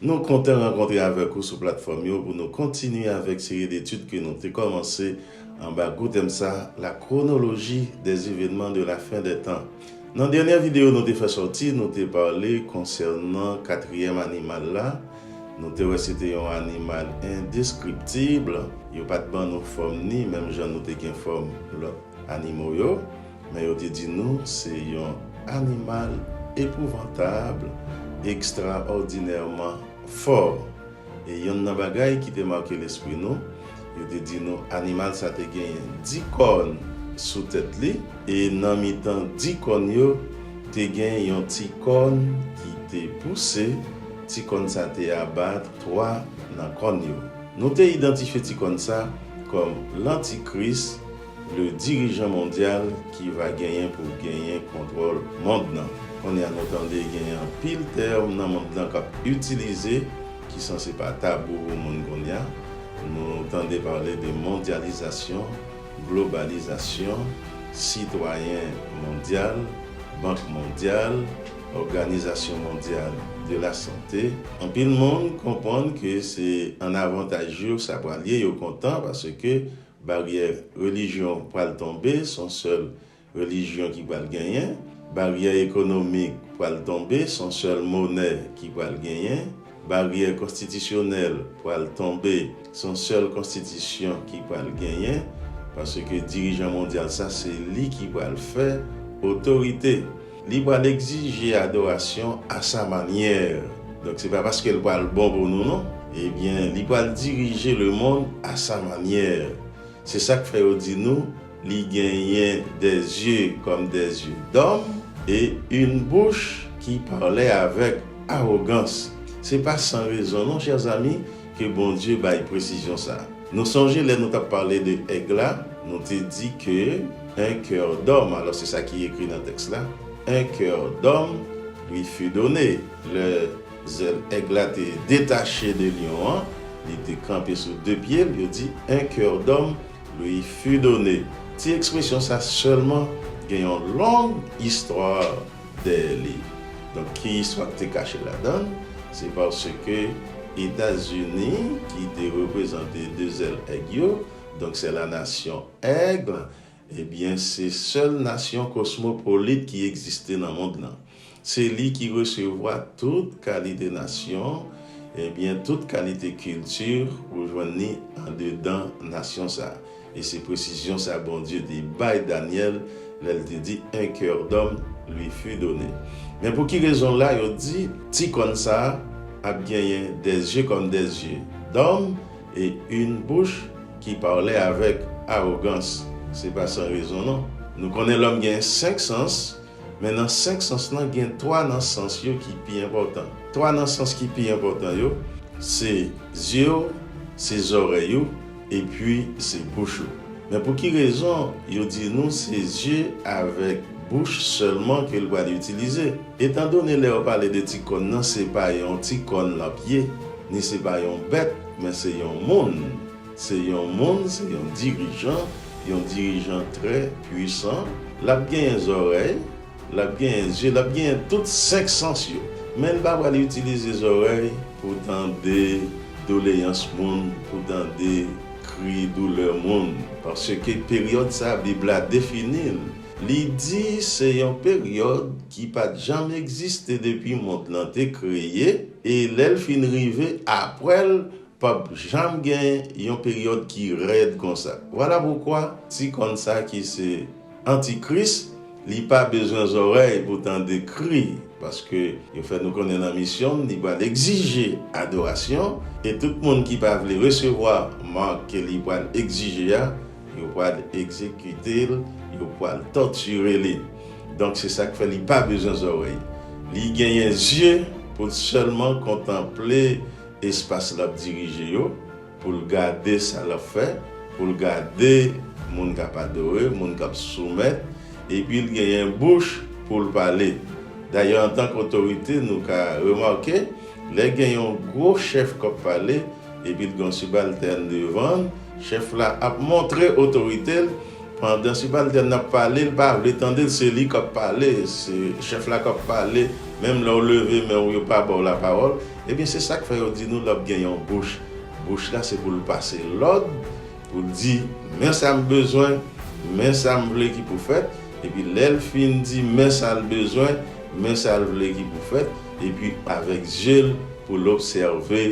Nou kontan rankontre avèk ou sou platfòm yo pou nou kontinye avèk seri detid ke nou te kòmanse anba gwo tèm sa, La chronologie des événements de la fin des temps. Nan dènyè videyo nou te fè sòti, nou te pale konsènan katriyèm animal la, nou te wè se te yon animal indescriptible, yo pa t ban nou fòm ni menm jan nou te gen fòm lòt animo yo. Men yo te di nou se yon animal epouvantab, ekstraòdinèman fò. E yonn nan bagay ki te make lespri nou, yo te di nou animal sa te genyen di kòn sou tèt li, e nan mitan di kòn yo, te gen yon ti kòn ki te pouse, ti kòn sa te aba twa nan kòn yo. Nou te idantifye ti kòn sa kòm Lantikris. Le dirijan mondyal ki va genyen pou l genyen kontwòl mond lan. Kounye a nou tande genyen anpil tèm nan mond lan k ap itilize ki sanse pa tabou pou moun kounye a. Nou tande pale de mondyalizasyon, globalizasyon, sitwayen mondyal, bank mondyal, òganizasyon mondyal de la sante. Anpil moun konprann ke se an avantaj yo sa pral ye, yo kontan paske Baryè relijyon pral tonbe, son sèl relijyon ki pral genyen. Baryè ekonomik pral tonbe, son sèl monè ki pral genyen. Baryè konstitisyonèl pral tonbe, son sèl konstitisyon ki pral genyen. Paske dirijan mondyal sa se li ki pral fè otorite. Li pral egzije adorasyon a sa manyè. Donk se pa paske l pral bon pou nou non. Ebyen, li pral dirije lemonn a sa manyè. Se sa k fè yo di nou li genyen de zye kòm de zye dòm e yn bouch ki pale avèk awogans. Se pa san rezon non chèzami. Ke Bondye bay presizyon sa. Nou sonje lè nou tap pale de èg la, nou te di ke un coeur d'homme, alò se sa ki ekri nan tèks la, un coeur d'homme lui fut donné, lè zèl èg la te detache de lyon an, li te kanpe sou de pye l, yo di un coeur d'homme lui fut donné. Ti ekspresyon sa sèlman gen yon long istwa. dèyè li. Donk ki istwa ki te kache ladan l? Se paske Etazini ki te reprezante de zèl èg yo, donk se la nasyon Aigle, ebyen se sèl nasyon kosmopolit ki egziste nan mond lan. Se li ki resevwa tout kalite nasyon, ebyen tout kalite kilti ou jwenn li andedan nasyon sa. E se presizyon sa Bondye te bay Danyèl lè l te di, Un coeur d'homme lui fut donné. Men pou ki rezon la yo di ti kòn sa a ap genyen des yeux comme des yeux d'homme et une bouche qui parlait avec arrogance? Se pa san rezon non. Nou konnen lòm gen senk sans. Men nan senk sans lan gen twa nan sans yo ki pi enpòtan. Twa nan sans ki pi enpòtan yo, se zye w, se zòrèy ou, epi se bouch ou. Men pou ki rezon yo di nou se zye avèk bouch sèlman ke l pral itilize? Etandone lè yo pale de ti kòn nan se pa yon ti kòn l ap ye, ni se pa yon bèt, men se yon moun. Se yon moun, se yon dirijan, yon dirijan trè pwisan. L ap genyen zòrèy, l ap genyen zye, l ap genyen tout senk sans yo. Men l pa pral itilize zòrèy pou tande doleyans moun, pou tande kri doulè moun. Paske peryòd sa a, Bib la defini l, li di se yon peryòd ki pa t janm egziste depi mond lan te kreye, e lè l fin rive apre l, Pap janm gen yon peryòd ki rèd konsa. Vwala poukwa ti kòn sa ki se anti kris li pa bezwen zòrèy pou tande kri paske yo fè nou konnen nan misyon m li pral egzije adorasyon e tout moun ki pa vle resevwa marc ke li pral egzije a yo pral egzekite l yo pral tòtire li donk se sak fè li pa bezwen zòrèy li genyen zye pou l sèlman kontanple espas l ap dirije yo, pou l gade sa l ap fè, pou l gade moun k ap adore, moun k ap soumèt, epi l genyen bouch pou l pale. Dayè, antank otorite, nou ka remake, lè gen yon gwo chèf k ap pale, epi l gen yon sibaltèn devan l, chèf la ap montre otorite l, pandan sibaltèn nan ap pale, l pa vle tande l, se li k ap pale, se chèf la k ap pale, menm lè w leve men w yo pa ba w lapawòl. Ebyen se sak fè yo di nou lòp gen yon bouch, bouch la se poul pase lòd, poul di men sam bezwen, men sam vle ki pou fèt, epi lèl fin di men sal bezwen, men sal vle ki pou fèt, epi avèk zyel poul obsève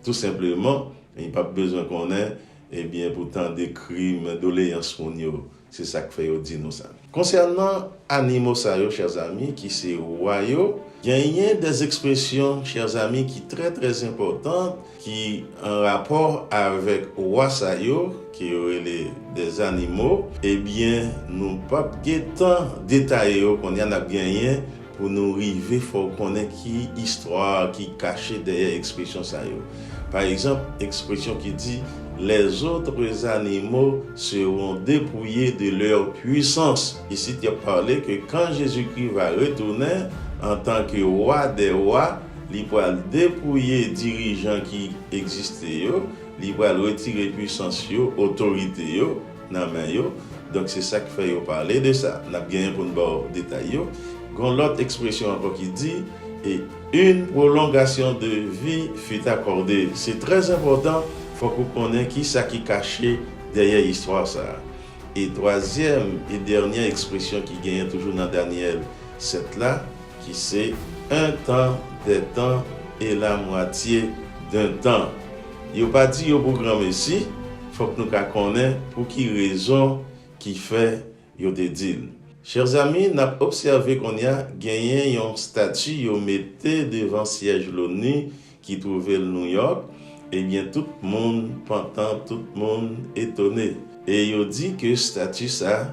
tou senpleman, li pap bezwen konnen, ebyen pou tande kri men doleyans moun yo. Se sa k fè yo di nou sa. Konsènan animo sa yo, chè zami, ki se wa yo, genyen de zespresyon, chè zami, ki trè trè enpòtan, ki an rapò avèk wa sa yo, ke yo rele de zanimo, ebyen nou p ap gen tan detaye yo kounye a, n ap genyen. Pou nou rive fò w konnen ki istwa ki kache dèyè ekspresyon sa yo. Pa egzanp, ekspresyon ki di Les autres animaux seront depouillés de leur puissance. Isit y ap pale ke kan Jezikri va retounen antanke Wa dè Wa, li pral depouye dirijan ki egziste yo, li pral retire puisans yo, otorite yo, nan men yo, donk se sa k fè yo pale de sa. N ap genyen pou n ba w detay yo. Gen yon lòt ekspresyon ankò ki di, Et une prolongation de vie fut accordée. Se trè enpòtan, fòk ou konnen ki sa ki kache dèyè istwa sa a. E twazyèm e dènyè ekspresyon ki genyen toujou nan Danyèl 7 la, ki se, un temps, des temps, et la moitié d'un temps. Yo pa di yo pou granmesi, fòk nou ka konnen pou ki rezon ki fè yo te di l. Chers amis, n ap obsève kounye a genyen yon stati yo mete devan syèj l'ONU ki twouve l Nouyòk, ebyen tout moun pantan, tout moun etone. E yo di ke stati sa,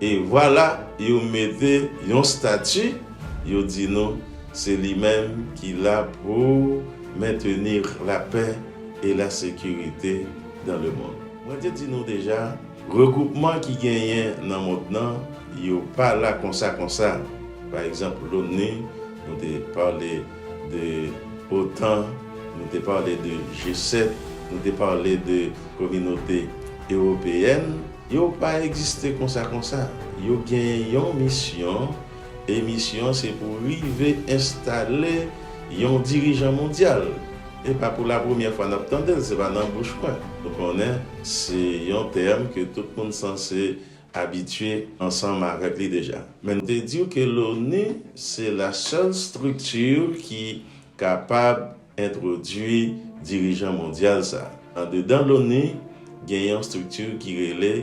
E vwala yo mete yon stati, yo di nou se li menm ki la pou maintenir la paix et la sécurité dans le monde. Mwen te di nou deja, regwoupman ki genyen nan mond nan, yo pa la konsa konsa. Pa egzanp l'ONU, nou te pale de otan, nou te pale de G7, nou te pale de kominote ewopeyèn. Yo pa egziste konsa konsa. Yo gen yon misyon e misyon an se pou rive enstale yon dirijan mondyal. E pa pou la premyè fwa n ap tande l, se pa nan bouch mwen. Nou konnen se yon tèm ke tout moun sanse abitye ansanm avèk li deja. Men m te di w ke l'ONU se la sèl strikti ki kapab entwodui dirijan mondyal sa. Andedan loni, gen yon estrikti ki rele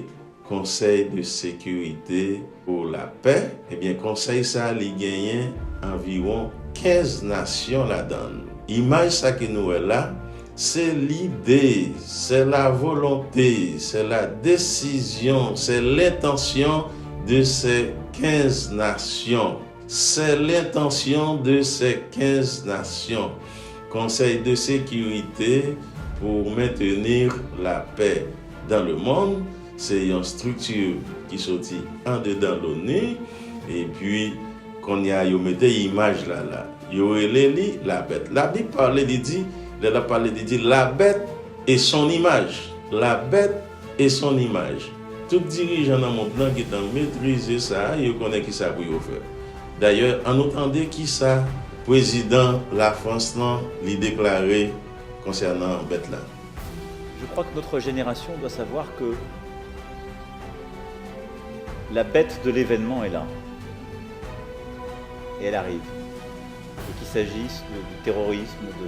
Conseil de sécurité pour la paix, ebyen konsèy sa li genyen anviwon 15 nasyon ladan l. Imaj sa ke nou wè la, se lide, sè la volonte, sè la desizyon, sè lentansyon de sè 15 nasyon. Se lentansyon de se 15 nasyon, Konsèy de Sekirite pou Maintenir la Paix dans le Monde, se yon strikti ki soti andedan l'ONU, epi kounye a yo mete imaj la la. Yo rele li la bèt. Labib pale, li di, lè l ap pale, li di, La bête et son image. La bête. E son imaj. Tout dirijan nan mond lan gentan metrize sa a, yo konnen kisa pou yo fè. Dayè, an nou tande kisa prezidan Lafrans lan li deklare konsènan bèt la. Je crois que notre génération doit savoir que la bête de l'événement est là et elle arrive et qu'il s'agisse du terrorisme, de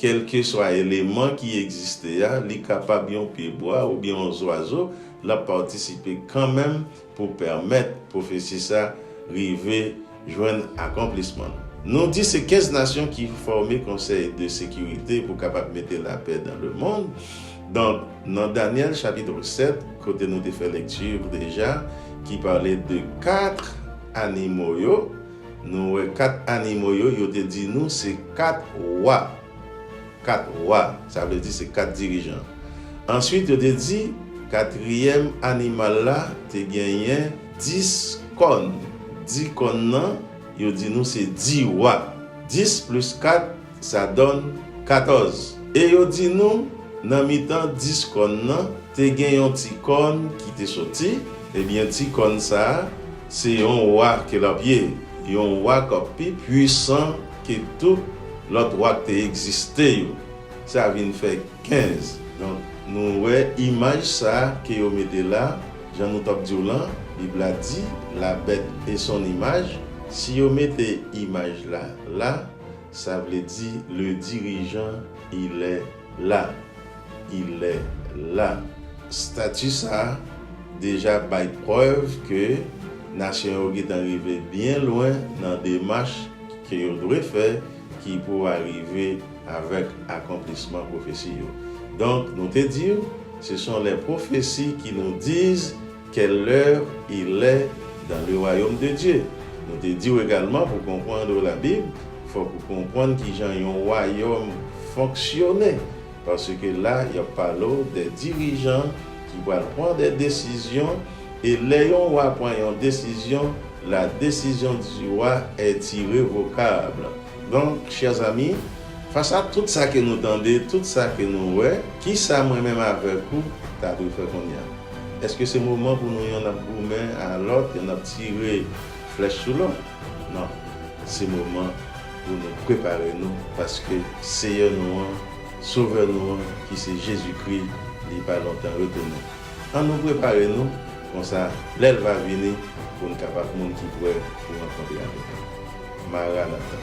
Kèlkeswa eleman ki egziste a, li kapab yon pyebwa oubyen yon zwazo, l ap patisipe kanmenm pou pèmèt pwofesi sa rive jwenn akonplisman l. Nou di se 15 nasyon ki fòme Konsèy de Sekirite pou kapab mete lapè dan le mond. Donk, nan Danyèl chapitre 7, kote nou te fè lekti deja, ki pale de 4 animo yo, Nou wè kat animo yo, yo te di nou se kat wa. Kat wa, sa vle di se kat dirijan. Ansuit yo te di, katriyèm animal la te genyen dis kòn. Di kòn nan, yo di nou se di wa. Dis plis kat, Sa donn, 14, E yo di nou, Nan mitan dis kòn nan, te gen yon ti kòn ki te soti, ebyen ti kòn sa a, se yon wa ke l ap ye, yon wa k ap pi puisan ke tout lòt wa k te egziste yo. Sa vin fè 15. Donk, nou wè imaj sa a ke yo mete la, jan nou t ap di w lan, Bib la di, La bèt e son imaj, si yo mete imaj la la, sa vle di le dirijan ilè la, ilè la. Stati sa a deja bay prèv ke nasyon yo gentan rive byen lwen nan demach ke yo dwe fè ki pou arive avèk akonplisman pwofesi yo. Donk, nou te di w, se son lè pwofesi ki nou diz, Quelle l'heure il est dans le royaume de Dieu? Nou te di w egalman pou konpwandr la bib fok ou konpwann kijan yon wayom fonksyone paske la yap pale w de dirijan ki pral pwan de desizyon e le yon wa pwan yon desizyon la desizyon du wa est irrevocable donk chers amis fas a tout sa ke nou tande tout sa ke nou we kisa mwen menm avek ou ta dwe fe konnya? Èske se moman pou nou yonn ap goumen a lòt, yonn ap tire flèch sou lòt? Non. Se moman pou nou prepare nou paske Seyè nou an, Sovè nou an ki se Jezikri, li pa lontan retounen. Annou prepare nou, konsa lè l va vini, pou n kapab moun ki prè pou rankontre avèk li. Maranata!